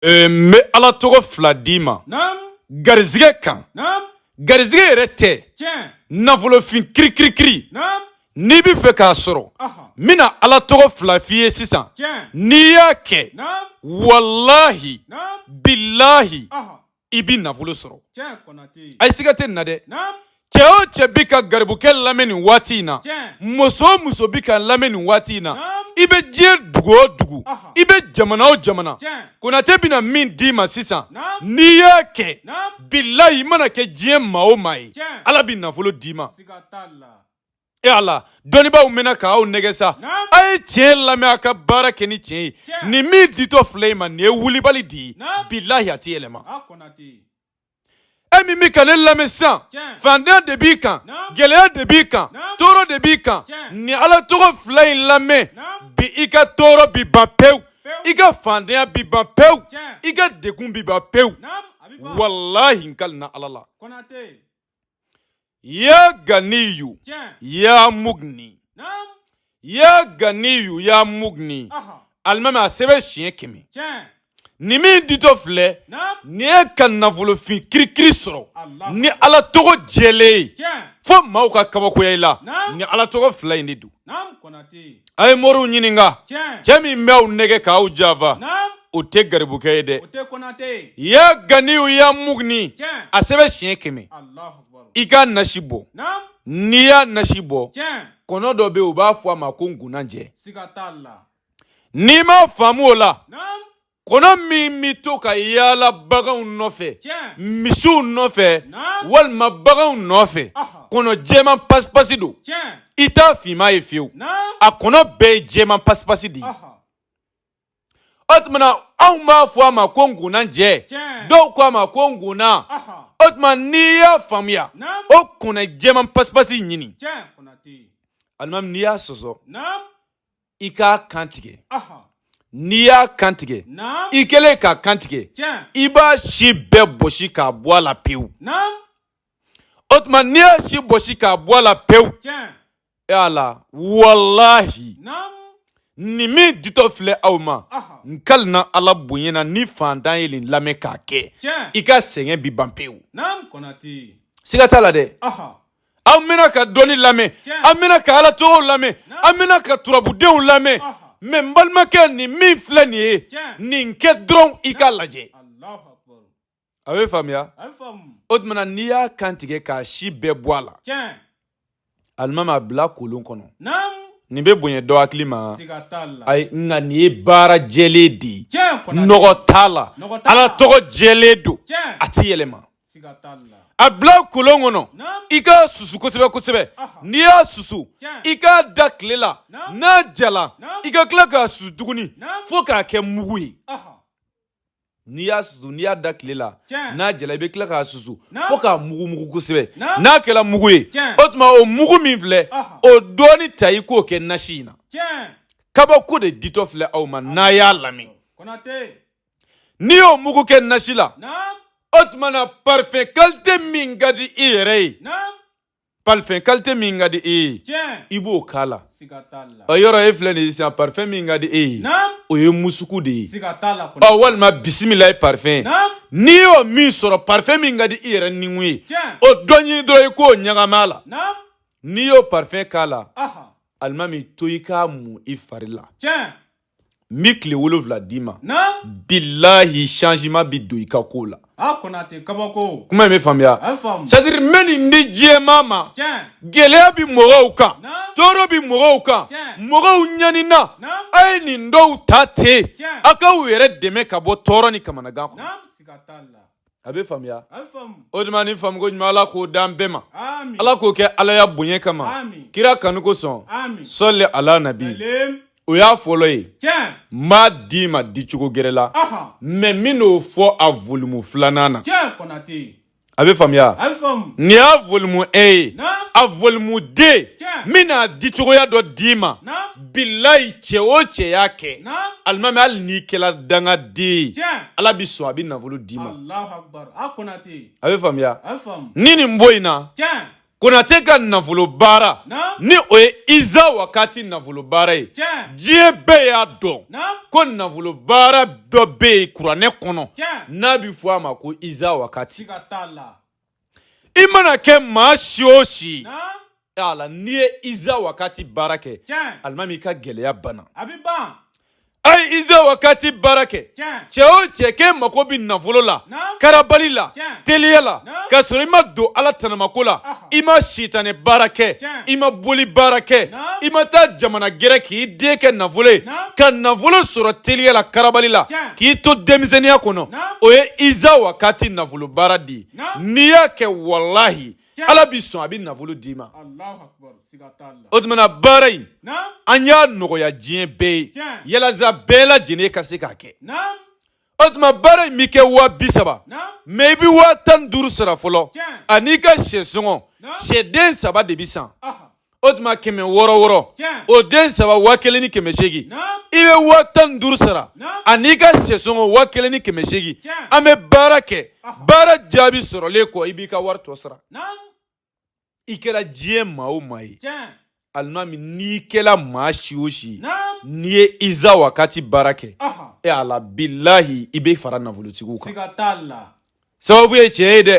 Ee n bɛ ala tɔgɔ fila d'i ma garisɛgɛ kan garisɛgɛ yɛrɛ tɛ nafolofin kirikirikiri n'i bɛ fɛ k'a sɔrɔ n bɛna ala tɔgɔ fila f'i ye sisan n'i y'a kɛ walahi bilahi i bɛ nafolo sɔrɔ ayi siga tɛ nin na dɛ Cɛ o cɛ bɛ ka garibukɛ lamɛn nin waati in na muso o muso bɛ k'a lamɛn nin waati in na i bɛ diɲɛ dugu o dugu i bɛ jamana o jamana konatɛ bɛna min d'i ma sisan n'i y'a kɛ bilahi i mana kɛ diɲɛ maa o maa ye ala bɛ nafolo d'i ma e ala dɔnnibaaw mɛnna k'aw nɛgɛ sa a ye tiɲɛ lamɛn a ka baara kɛ ni tiɲɛ ye nin min ditɔ filɛ i ma nin ye wulibali de ye bilahi a tɛ yɛlɛma e min bɛ ka ne lamɛn sisan fantanya de b'i kan gɛlɛya de b'i kan tɔɔrɔ de b'i kan ni ala tɔgɔ fila in lamɛn bi i ka tɔɔrɔ bi ban pewu i ka fantanya bi ban pewu i ka degun bi ban pewu walahi n kalina ala la ya ganiyu ya mugni ya ganiyu ya mugni alimami a sɛbɛn siɲɛ kɛmɛ nin min ditɔ filɛ nin ye ka nafolofin kirikiri sɔrɔ ni ala tɔgɔ jɛlen ye fo maaw ka kabakoya i la nin ala tɔgɔ fila in de don A ye moriw ɲininka cɛ min b'aw nɛgɛ k'aw janfa o tɛ garibukɛ ye dɛ ya ganiyu ya mugni a sɛbɛn siɲɛ kɛmɛ i k'a nasi bɔ n'i y'a nasi bɔ kɔnɔ dɔ bɛ u b'a fɔ a ma ko nkunanjɛ n'i m'a faamu o la kɔnɔ min bɛ to ka yaala baganw nɔfɛ misiw nɔfɛ walima baganw nɔfɛ kɔnɔ jɛman pasipasi don i t'a finman ye fiyewu a kɔnɔ bɛɛ ye jɛman pasipasi de ye o tuma na anw b'a fɔ a ma ko nkunanjɛ dɔw ko a ma ko nkunan o tuma n'i y'a faamuya o kɔnɔ jɛman pasipasi ɲini alimami n'i y'a sɔsɔ i k'a kantigɛ n'i y'a kantigɛ i kɛlen k'a kantigɛ i b'a si bɛɛ bɔsi k'a bɔ a la pewu o tuma n'i y'a si bɔsi k'a bɔ a la pewu e ya ala walahi nin min ditɔ filɛ aw ma n kalina ala bonya na ni fantan ye nin lamɛn k'a kɛ i ka sɛgɛn bi ban pewu siga t'a la dɛ an bɛna ka dɔnni lamɛn an bɛna ka ala tɔgɔw lamɛn an bɛna ka turabudenw lamɛn mais n balimakɛ nin min filɛ nin ye nin kɛ dɔrɔn i k'a lajɛ a bɛ faamuya o tuma n'i y'a kan tigɛ k'a si bɛɛ bɔ a la alimami a bila kolon kɔnɔ nin bɛ bonya dɔ hakili ma ayi nka nin ye baara jɛlen de ye nɔgɔ t'a la ala tɔgɔ jɛlen don a tɛ yɛlɛma a bila kolon kɔnɔ i k'a susu kosɛbɛ kosɛbɛ n'i y'a susu i k'a da tile la n'a jala i ka tila k'a susu tuguni fo k'a kɛ mugu ye n'i y'a susu n'i y'a da tile la n'a jala i bɛ tila k'a susu fo k'a mugu mugu kosɛbɛ n'a kɛra mugu ye o tuma o mugu min filɛ o dɔɔni ta i k'o kɛ nasi in na kabako de ditɔ filɛ aw ma n'a y'a lamɛn N'i y'o mugu kɛ nasi la o tuma na parfum qualité min ka di i yɛrɛ ye parfum qualité min ka di i ye i b'o k'a la ɔ yɔrɔ e filɛ nin ye sisan parfum min ka di e ye o ye musuku de ye ɔ walima bisimilayi parfum n'i y'o min sɔrɔ parfum min ka di i yɛrɛ nikun ye o dɔ ɲini dɔrɔn i k'o ɲagami a la n'i y'o parfum k'a la alimami to i k'a mu i fari la. n bɛ tile wolonwula d'i ma bilahi changement bɛ don i ka ko la kuma in bɛ faamuya c'est à dire n bɛ nin di diɲɛmaa ma gɛlɛya bɛ mɔgɔw kan tɔɔrɔ bɛ mɔgɔw kan mɔgɔw ɲanina a ye nin dɔw ta ten a k'aw yɛrɛ dɛmɛ ka bɔ tɔɔrɔ ni kamanagan kɔnɔ a bɛ faamuya o tuma ni faamuko ɲuman ala k'o d'an bɛɛ ma ala k'o kɛ alaya bonya kama kira kanu kosɔn sɔli ala nabi o y'a fɔlɔ ye n b'a d'i ma dicogo gɛrɛ la mais n bɛn'o fɔ a volume filanan na a bɛ faamuya nin y'a volume un ye a volume deux n bɛn'a dicogoya dɔ d'i ma bilayi cɛ o cɛ y'a kɛ alimami hali n'i kɛra dangaden ye ala bɛ sɔn a bɛ nafolo d'i ma a bɛ faamuya ni nin bɔ in na konate ka nafolo baara ni o ye iza wakati nafolo baara ye diɲɛ bɛɛ y'a dɔn ko nafolo baara dɔ bɛ yen kuranɛ kɔnɔ n'a bɛ fɔ a ma ko iza wakati i mana kɛ maa si o si a la n'i ye iza wakati baara kɛ alimami i ka gɛlɛya banna a ye iza wakati baara kɛ cɛ o cɛ k'e mako bɛ nafolo la karabali la teliya la ka sɔrɔ i ma don ala tanamako la i ma sitanɛ baara kɛ i ma boli baara kɛ i ma taa jamana gɛrɛ k'i den kɛ nafolo ye ka nafolo sɔrɔ teliya la karabali la k'i to denmisɛnninya kɔnɔ o ye iza wakati nafolo baara di n'i y'a kɛ walahi ala b'i sɔn a bɛ nafolo d'i ma o tuma na baara in an y'a nɔgɔya diɲɛ bɛɛ ye yalasa bɛɛ lajɛlen ka se k'a kɛ o tuma baara in bɛ kɛ waa bi saba mɛ i bɛ waa tan duuru sara fɔlɔ ani i ka shɛ sɔngɔ sɛden saba de bɛ san o tuma kɛmɛ wɔɔrɔ wɔɔrɔ o den saba waa kelen ni kɛmɛ seegin i bɛ waa tan ni duuru sara an'i ka sɛsɔngɔ waa kelen ni kɛmɛ seegin an bɛ baara kɛ baara jaabi sɔrɔlen kɔ i b'i ka wari tɔ sara i kɛra diɲɛ maa o maa ye alimami n'i kɛla maa si o si n'i ye iza wakati baara kɛ ala bilahi i bɛ fara nafolotigiw kan sababu ye tiɲɛ ye dɛ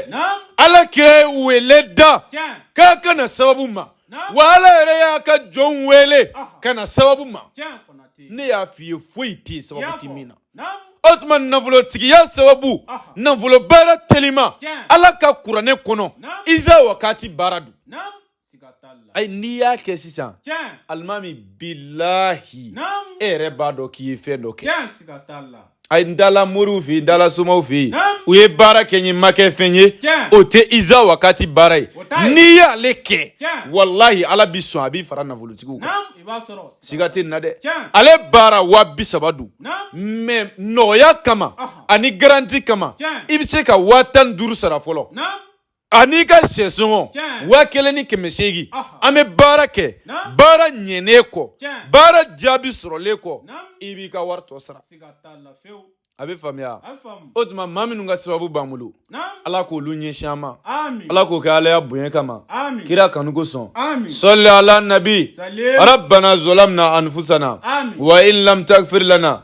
ala kira ye wele da k'a ka na sababu ma wa ala yɛrɛ y'a ka jɔnw wele ka na sababu ma ne y'a f'i ye foyi tɛ yen sababu ti min na o tuma nafolotigiya sababu nafolo baara telima ala ka kuranɛ kɔnɔ iza wakati baara don ayi n'i y'a kɛ sisan alimami bilahi e yɛrɛ b'a dɔn k'i ye fɛn dɔ kɛ ayi n taala moriw fɛ yen n taala somaw fɛ yen u ye baara kɛ n ye ma kɛ fɛn ye o tɛ iza wakati baara ye n'i y'ale kɛ walahi ala bɛ sɔn a b'i fara nafolotigiw kan siga tɛ n na dɛ ale baara waa bi saba don mɛ nɔgɔya kama ani garanti kama i bɛ se ka waa tan ni duuru sara fɔlɔ An'i ka sɛsɔngɔ waa kelen ni kɛmɛ seegin an bɛ baara kɛ baara ɲɛnen kɔ baara jaabi sɔrɔlen kɔ i b'i ka wari tɔ sara a bɛ faamuya o tuma maa minnu ka sababu b'an bolo ala k'olu ɲɛsin an ma ala k'o kɛ ala ya bonya kama kira kanu kosɔn sali ala nabi rabana zalamna anifusana wa in lam tafirilana